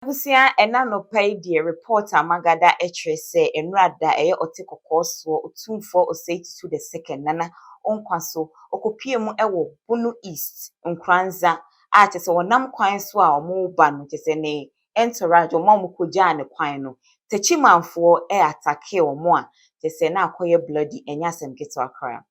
Abusua ɛna anɔpa yi deɛ report a magada ɛkyerɛ sɛ ɛnora da ɛyɛ ɔte kɔkɔɔ soɔ otumfoɔ osei tutu the second nana onkwa so ɔkɔpue mu ɛwɔ bono east nkuranza a kyɛsɛ ɔnam kwan so a ɔmo ba no kyɛsɛ ne entourage ɔmo a ɔmo kɔgyaa ne kwan no takyimanfoɔ ɛ attackee ɔmo a kyɛsɛ na akɔyɛ bloody ɛnyɛ asɛm ketewa koraa.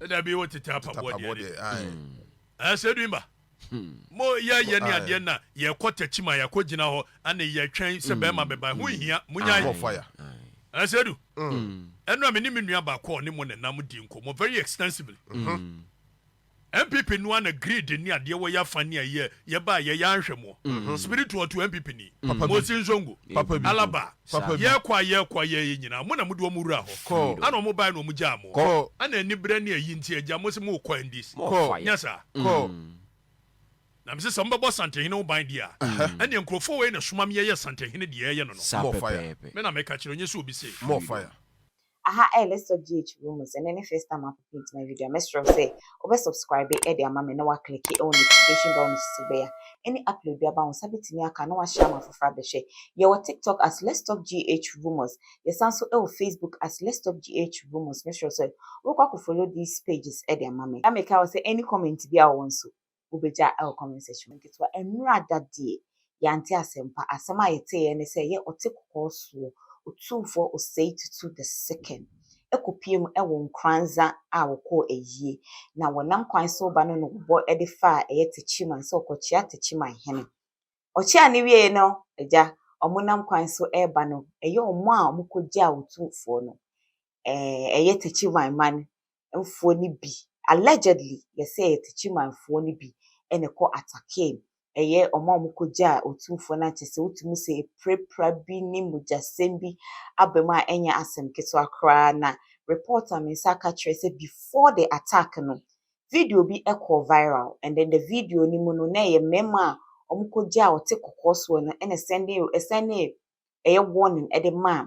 ɛda bi wɔ tete apaboɔ deɛ de ɛɛ sɛ dwi mba mo yɛ yɛ ne adeɛ na yɛkɔ takyi ma yɛkɔ gyina hɔ ɛne yɛtwɛn sɛ bɛrima bɛba ho nhia mo nyan ɛɛ sɛ du ɛno a me ne me nua baako ɔne mo ne nam di nkɔmɔ very extensively MPP noa na greed ne adeɛ wɔ yɛ afa ne ayɛ yɛba yɛ yɛ anhwɛ mo spiritual to MPP ni mo si nsongo alaba Papa bi. Yɛɛkɔ a yɛɛkɔ a yɛɛyɛ nyinaa mo na mode wɔn wuraa hɔ Kɔ. ana wɔn baeɛ na wɔn gyaa mo Kɔ. ana aniberɛ ne ayi nti agya mose mookɔ ndc Kɔ. nyɛ saa Kɔ. na mese sɛ mobɛbɔ Asantehene ho ban deɛ a ɛneɛ nkurɔfoɔ wei na ɛsoma me yɛyɛ Asantehene deɛ yɛɛyɛ no no Saa Mmɔ fire. pɛpɛɛpɛ. me na meka kyerɛ nyɛ sɛ obi se. Mmɔ fire. Aha ɛyɛ let's talk GH Rumours ɛnɛ ne first time a popi nti my video a mɛsrɛ wo sɛ wobɛ subscribe de ama me na woaclicke ɛwɔ notification bell no so sɛ bɛyɛ a any upload bi aba wo nsa bɛtumi aka na woashare ama afoforɔ abɛhwɛ. Yɛwɔ TikTok as let's talk GH Rumours, yɛsan nso ɛwɔ Facebook as let's talk GH Rumours mɛsrɛ wo sɛ wobɛkɔ akɔ follow these pages de ama me. Na mekae wo sɛ any comment bi a wowɔ nso wobɛgya wɔ comment section mu ketewa. Ɛnora ada deɛ yɛante asɛmpa. Asɛm a yɛteeɛ ne sɛ yɛ ɔte kɔkɔɔ soɔ otumfoɔ Osei Tutu the second kɔpie mu wɔ Nkoranza a wɔkɔɔ ayie na wɔnam kwan so reba no na wɔbɔ de faa ɛyɛ Techiman sɛ ɔkɔkyea Techiman hene. Ɔkyeaa no wieeɛ no agya wɔnam kwan so reba no ɛyɛ wɔn a wɔkɔgyaa otumfoɔ no eh, ɛyɛ Techiman man mfoɔ no bi, allegedly yɛsɛ ɛyɛ Techiman foɔ no bi ɛna ɛkɔ atakee ɛyɛ wɔn a wɔn kɔ gyaa otumfoɔ no akyɛ sɛ wotumi sɛ epirapira bi ne mogyasɛm bi abam a ɛnyɛ asɛm ketewa koraa na report a me nsa aka kyerɛ sɛ before the attack no video bi ɛkɔɔ viral and then the video no mu no na ɛyɛ mmarima a wɔn kɔ gyaa ɔte kɔkɔɔ soɔ no ɛna sɛnde ɛsɛnde ɛyɛ warning ɛde maa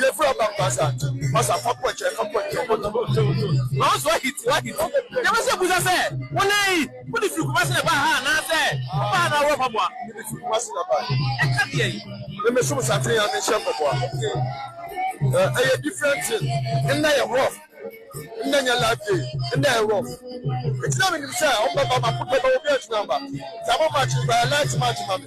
Yɛfiri aba mpasa, mpasa fa pɔkyɛ, fa pɔkyɛ ɔbɔtɔ bɔtɔ bɔtɔ. Na ɔso ahiti, ahiti. Yɛbɛ sɛ busa sɛ, wo nɛ yi, wo de firi Kumasi na ɛbaa ha anaa sɛ wo baa na awura mpaboa? Me de firi Kumasi na ɛbaa yi. Ɛka deɛ yi? Me me som saten a me nhyɛ mpaboa. Eh, ɛyɛ different thing. Nnɛ yɛ rough. Nnɛ nyɛ life day. Nnɛ yɛ rough. Nti na me nim sɛ ɔmo bɛba, ma ko bɛba, obi antumi amba. Nti aba match no, ba yɛ light match ma me.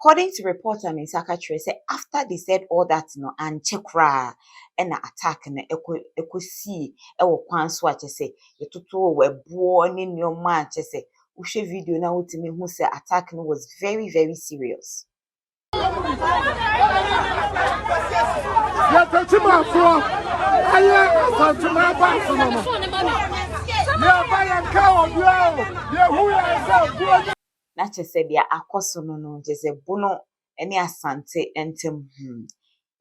According to report a me nsa ka kyerɛ sɛ after they said all that no ankyɛ koraa ɛna attack no ɛkɔ ɛkɔ sii ɛwɔ kwan so a kyɛ sɛ yɛtotoo ɛboɔ ne nneɛma a kyɛ sɛ wohwɛ video no a wotumi hu sɛ attack no was very very serious. yɛtɛkyi mu afoɔ ayɛ asantuma baase no no yɛba yɛnka obiara o yɛhu yɛn sɛ buo na kyɛ sɛ deɛ akɔ so no no gye sɛ Bono ne Asante ntam hmm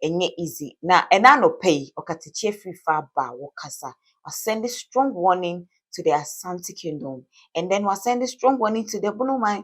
ɛnyɛ easy na ɛna anɔpa yi ɔkatakyie firi fa ba wɔ kasa wa sɛnde strong warning to the Asante kingdom and then wa sɛnde strong warning to the Bono man.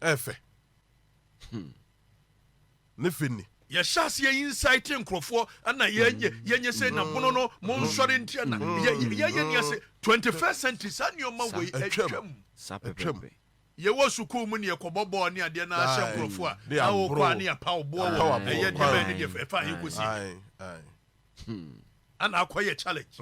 ɛyɛ fɛ hmm. ne fɛ ni yɛhyɛ aseɛ insight nkurɔfoɔ ana yɛnyɛ sɛ na bono no monsɔre ntia na yɛyɛ ni ase 21st century saa nneɔma wei atwam atwam yɛwɔ sukuu mu ne yɛkɔbɔ bɔɔl ne adeɛ no ahyɛ nkurɔfoɔ a na wokɔ a ne yɛpa wo boɔ wɔ ɛyɛ deɛ bɛyɛ ne deɛ ɛfa yɛkɔsi ana akɔ yɛ challenge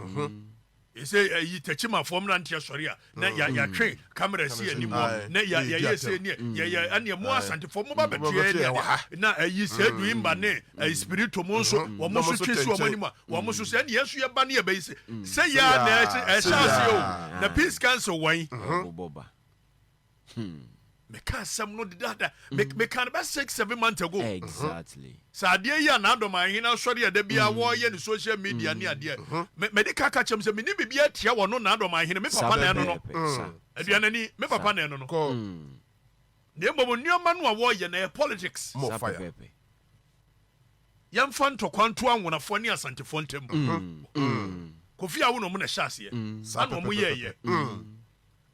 ɛsɛ ɛyi takyimafoɔ mmeranteɛ sɔre a na yɛatwe kamera asi yɛ anim hɔ na yɛyɛ sɛ neɛ yɛyɛ ɛneɛ mo asantefoɔ mo ba bɛtoɛ neɛ na ɛyi sɛ du imba ne ɛyi spirito mo nso wɔn mo so twe si wɔn anim a wɔn mo so sɛ ɛneɛ nso yɛba ne yɛbɛyi sɛ sɛ yɛ a na ɛhyɛ aseɛ o na peace council wɔn Hmm. meka asɛm no dedaada mm. meka no bɛ six seven months ago exactly uh-huh. sɛ adeɛ yi a n'adɔm ahene asɔre a da biara mm. wɔyɛ ne social media ne mm. adeɛ uh-huh. mede ka ka kyɛm sɛ mene biribi atia wɔ no n'adɔm ahene me papa na ɛno no aduanani me papa na ɛno no na mmom nneɛma no a wɔyɛ na ɛyɛ politics yɛmfa ntɔkwa nto anwonafoɔ ne asantefoɔ ntam kofi awo na ɔmo na ɛhyɛ aseɛ saa na ɔmo yɛɛyɛ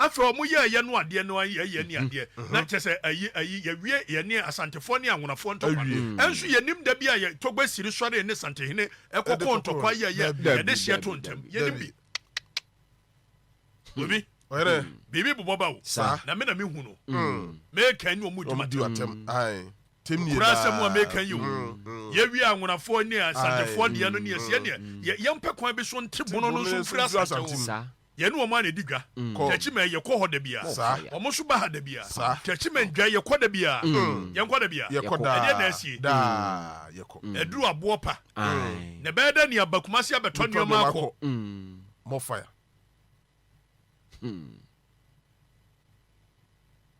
Afei ɔmo yɛɛ yɛn adeɛ no ara yɛɛ yɛn adeɛ na kyɛ sɛ ayi ayi yɛwie yɛne Asantefoɔ ne Anwonafoɔ ntɔkwa no nso yɛnim da bi a yɛ Togbe Siri sɔree ne Santehene kɔkɔɔ ntɔkwa yɛ yɛ yɛde hyeɛ to ntɛm yɛnim bi Obi biribi bobɔ ba o na me na me hu no meka ne ɔmo dwuma tɛm kura asɛm a meka yi o yɛwie Anwonafoɔ ne Asantefoɔ deɛ no ne yɛseɛ neɛ yɛmpɛ kwan bi so nte bono no nso mfiri Asante o Yɛne wɔn ara na ɛdi dwa. Kyɛkyi mɛn, yɛkɔ hɔ da biara. Wɔn nso ba ha da biara. Kyɛkyi mɛn dwan, yɛkɔ da biara. Yɛnkɔ da biara. Ɛdeɛn na asie? Aduru aboɔ pa. Na ɛbɛyɛ dɛ nea aba Kumasi abɛtɔ nneɛma akɔ. More fire.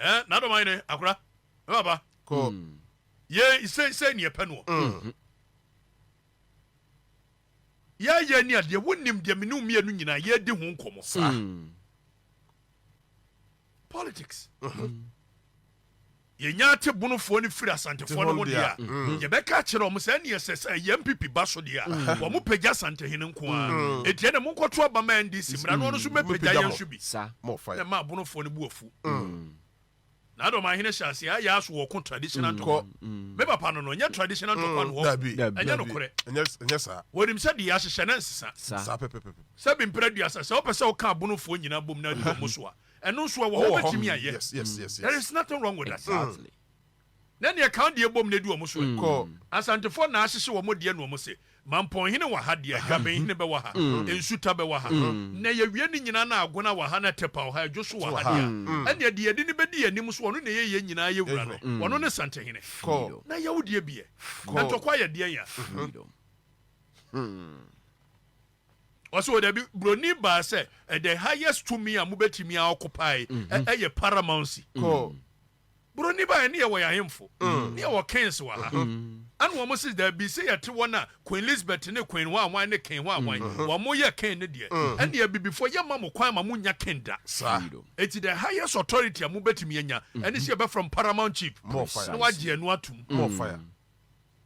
Eh, na dɔma yene akora. Me papa. Ko. Ye se se ni epe no. Ye ye ni adeɛ wo nim deɛ mene mmienu nyinaa ye di ho nkɔmɔ. Saa. Politics. Yɛnya Atebonofoɔ no firi Asantefoɔ no ho deɛ a, yɛbɛka akyerɛ wɔn sɛ, ɛnneɛ sɛ sɛ ɛyɛ NPP ba so deɛ a, wɔpagya Asantehene nko ara. Enti ɛnneɛ monkɔto aba ma NDC mmra na wɔn nso mmɛpagya yɛn nso bi. Na ɛmaa Abonofoɔ no bo afu. Na Adomanhene hyɛɛ aseɛ, ayɛ aso wɔko traditional ntɔkwa. Me papa no no, ɛnyɛ traditional ntɔkwa no hɔ. Ɛnyɛ nokorɛ. Wɔnim sɛ deɛ yɛahyehyɛ no nsesa. Sɛbi mprɛ aduasa, sɛ wopɛ sɛ woka Abonofoɔ nyinaa bom na adi wɔn so a, ɛno nso ɛwɔ hɔ wobɛtumi ayɛ yes, yes, yes, there is nothing wrong with that exactly. na neɛ kan deɛ bom na ɛdi wɔn so mm. asantefoɔ na ahyehye wɔn deɛ na wɔn se mampɔnhene wɔ ha deɛ dwabenhene bɛwɔ ha mm. nsuta bɛwɔ ha mm. na yɛwie ne nyinaa na agona wɔ ha na tɛpa wɔ ha adwo so wɔ ha deɛ ɛneɛ deɛ yɛde ne bɛdi yɛn anim so ɔno na ɛyɛ yɛn nyinaa yɛ wura no ɔno ne santehene na yɛwo deɛ biɛ na ntɔkwa yɛ deɛ ya hmm. Ɔsɛ wɔ dabi broni baa sɛ ɛdɛ highest tumi a mobɛtumi a ɔkopae mhm. ɛyɛ paramountcy mm. broni baa ne yɛwɔ yɛahemfo mm. ne yɛwɔ kings wɔ ha mm. ɛna wɔn sɛ dabi sɛ yɛte wɔn a queen elizabeth ne queen hɔ awan ne king hɔ awan wɔn yɛ king ne deɛ ɛne abibifoɔ yɛ ma mo kwan ma mo nya king da saa eti the highest authority a mobɛtumi anya ɛne sɛ yɛbɛfrɛ paramount chief na wagye ɛno atum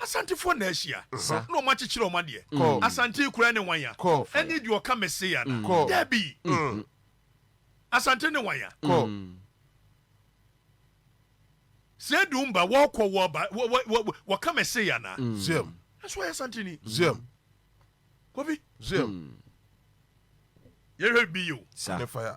Asantefoɔ na ahyia Sa. na wɔn akyekyere wɔn adeɛ. Kɔ. Asante yi koraa ne wan ya? Kɔ. Ɛne deɛ ɔka Mesia ya na? Kɔ. Dabi! Mm. Asante ne wan ya? Kɔ. Mm. Sɛ edu mba wɔkɔ wɔba wɔka Mesia ya na? Mm. Zem. Ɛso ɔyɛ Asante ni. Zem. Kofi. Zem. Mm. Yɛhwɛ bi yi o. Sa. Ɛfaya.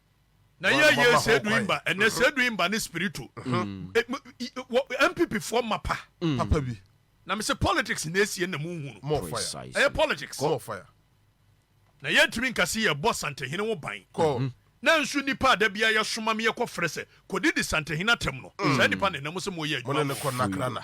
Na yɛ yɛ sedu imba ɛnɛ mhm. sedu imba ne spirito mhm. eh, eh, mpp foɔ ma pa mm. papa bi na mese politics na esie na mu nhunu ɛyɛ politics na yɛntumi nkasi yɛ bɔ santehene wo ban mhm. na nso nipa a da bia yɛsoma me yɛkɔ frɛ sɛ kɔdi di santehene atɛm no saa nipa na ɛnam sɛ moyɛ adwuma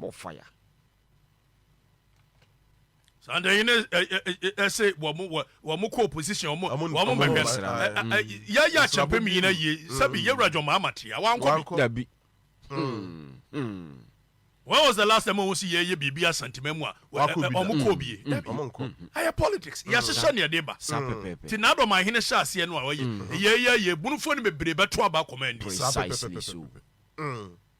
Mofaya. saa de ɛyi ne ɛsɛ wɔn wɔn kɔ opposition wɔn wɔn mɛhwɛ yɛyɛ akyɛpɛ mi nyina yie sɛbi yɛ wura jɔn mahama te a wankɔ dabi. When was the last time wɔn si yɛyɛ biribi asantima mu a wɔn kɔ bie dabi ayɛ politics yɛahyehyɛ nea ɛde ba ti na adɔm ahene hyɛ aseɛ no a wɔyɛ yɛyɛ yɛ bunufo no bebree bɛto aba akɔmɔ ɛndi.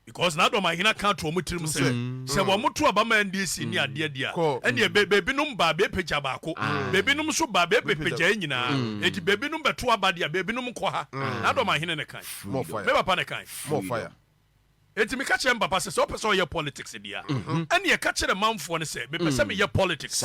Because n'adɔm ahena ka to wɔn tirim sɛ, Sɛ wɔto aba ma ɛnde asia ne adeɛ deɛ a, ɛnneɛ be, bebinom ba a, bepagya baako, bebinom nso ba a, bepagya yɛn nyinaa. Enti bebinom bɛto aba deɛ a, bebinom nkɔ ha. N'adɔm ahene na ɛkae. Me papa na ɛkae. Enti meka kyerɛɛ me papa sɛ, sɛ wopɛ sɛ woyɛ politics deɛ a, ɛnneɛ ka kyerɛ manfoɔ no sɛ mepɛ sɛ meyɛ politics.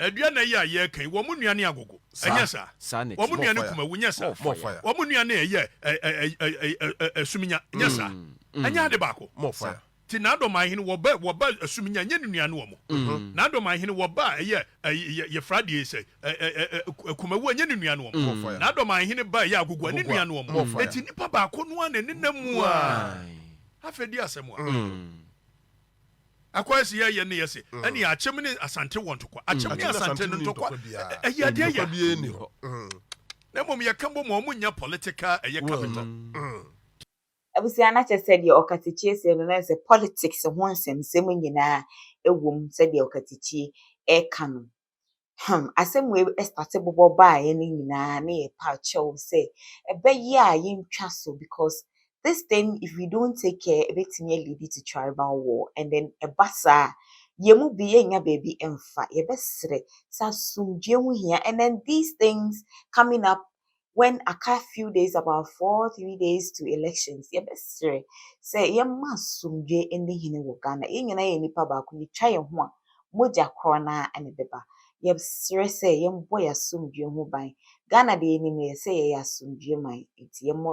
Adua nna yi a yɛreka yi, wɔn nnuane yɛ agogo, ɛnyɛ saa? Wɔn nnuane kumawu, nyɛ saa? Wɔn nnuane yɛ asuminya, nyɛ saa? Mm. Ɛnyɛ ade baako. Ti n'adɔman hene wɔba wɔba asuminya nyɛ ne nnuane wɔn. Mm. N'adɔman hene wɔba ɛyɛ yɛfra deɛ sɛ kumawu nyɛ ne nnuane wɔn. N'adɔman hene ba ɛyɛ agogo ne nnuane wɔn. Eti nipa baako no a na ɛnenam mu a afei di asɛm a. Mm. Akwansi yɛyɛ ne yɛ se ɛne akyem ne asante wɔ ntɔkwa. Akyem ne asante no ntɔkwa ɛyɛ adeɛ ya. Na mmom yɛka mbom a ɔmo nnya political ɛyɛ capital. Abusua no akyɛ sɛ deɛ ɔkatakyie see no na sɛ politics ho nsɛmsɛm nyinaa ɛwɔ mu sɛdeɛ ɔkatakyie ɛɛka no. Hmm, asɛm wei ɛstate bobɔ baeɛ no nyinaa na yɛ pa kyɛw sɛ ɛbɛyɛ a yɛntwa so because this thing if we don't take care ɛbɛtumi alidi to tribal war and then ɛba saa a yɛn mu bi yɛnya baabi mfa yɛbɛsrɛ sɛ asomdwoe ho hia and then these things coming up when aka few days about four three days to elections yɛbɛsrɛ sɛ yɛma asomdwe ne hene wɔ ghana yɛn nyinaa yɛ nipa baako yɛtwa yɛn ho a mogya korɔ no ara na ɛbɛba yɛsrɛ sɛ yɛmbɔ yɛ asomdwe ho ban ghana deɛ yɛnim yɛ sɛ yɛyɛ asomdwe man nti yɛmmɔ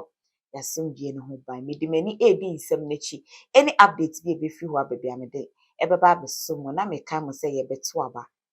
yɛ asomdwe no ho ban mede m'ani ɛredi nsɛm no akyi ɛne update bi a ɛbɛfiri hɔ abɛbia mede ɛbɛba abɛso mu na meka mo sɛ yɛbɛto aba